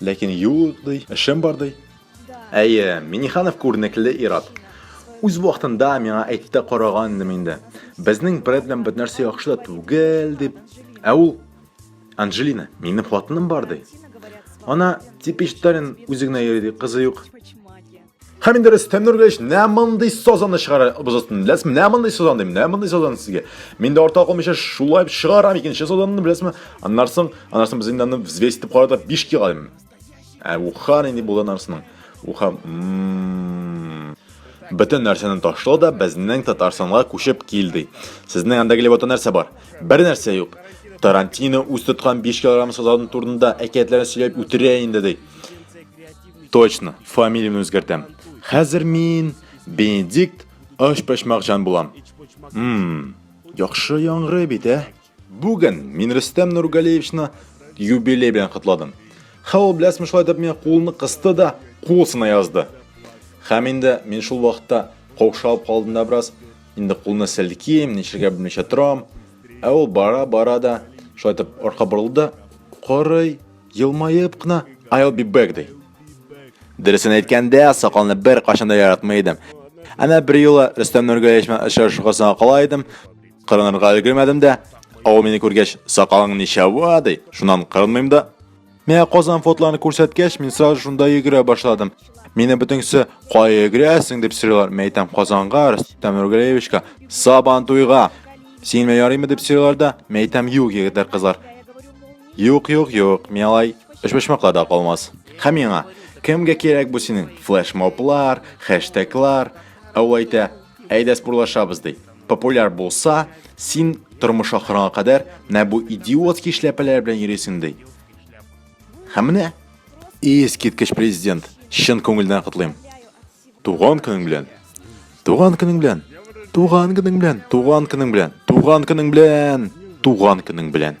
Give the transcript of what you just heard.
Ләкин юк ди, эшем бар ди. Әйе, Миниханов күренекле ир-ат. Үз вакытында миңа әйтте караган идем инде. Безнең бред белән бер нәрсә яхшы да түгел дип. Ә ул Анжелина, минем хатыным бар ди. Ана типичтарен үзе генә йөри ди, кызы юк. Һәм инде Рөстәм Нургалич, нә мондый сазаны чыгарабыз өстен. Беләсезме, нә мондый сазан дим, нә мондый сазан сезгә. Мин дә арта калмыйча шулай чыгарам икенче сазанны, беләсезме? Аннан соң, аннан соң без инде аны взвес итеп карадык, 5 килограмм дим. Ә ухан инде булды аннан Ухан бөтен нәрсәне ташлау да безнең Татарстанга күчеп килде. Сезнең анда килеп ата нәрсә бар? Бер нәрсә юк. Тарантино үз тоткан 5 килограмм сазан турында әкиятләрен сөйләп үтерә инде ди. Точно, фамилиямне үзгәртәм. Хәзер мин Бенедикт Ашпачмакҗан булам. Мм, яхшы яңгырый бит, ә? Бүген мин Рөстәм Нургалиевичны юбилей белән котладым. Һәм ул беләсме шулай дип миңа кулны кысты да, кул сына язды. Һәм инде мин шул вакытта каушап калдым да бераз, инде кулны селким, ничергә белмичә торам. Ә ул бара-бара да шулай итеп арка борылды, карый, Елмаеп кына I'll be back ди. Дөресен әйткәндә, сакалны бер кашан да яратмый идем. Әнә бер юлы Рөстәм Нургалиевич белән очрашуга саң кала идем. Кырынырга өлгермәдем дә. Ау мине күргәч, сакалың ничава ди. Шуннан кырынмыйм да. Менә Казан фотларын күрсәткәч, мин сразу шунда йөгерә башладым. Мине бүтеңсе кая йөгерәсең дип сорыйлар. Мин әйтәм Казанга, Рөстәм Нургалиевичка, Сабан туйга. Син мә ярыймы дип сорыйлар да. Мин әйтәм юк, егетләр, кызлар. Юк, юк, юк, мин алай өчпочмакларда калмас. Һәм миңа, кемгә кирәк бу синең флешмоблар, хэштеглар, ә ул әйтә, әйдә спорлашабыз ди. Популяр булса, син тормыш ахырына кадәр менә бу идиотский эшләпәләр белән йөрисең ди. Һәм менә, искиткеч президент, чын күңелдән котлыйм. Туган көнең белән! Туган көнең белән! Туган көнең белән! Туган көнең белән! Туган көнең белән! Туган көнең белән!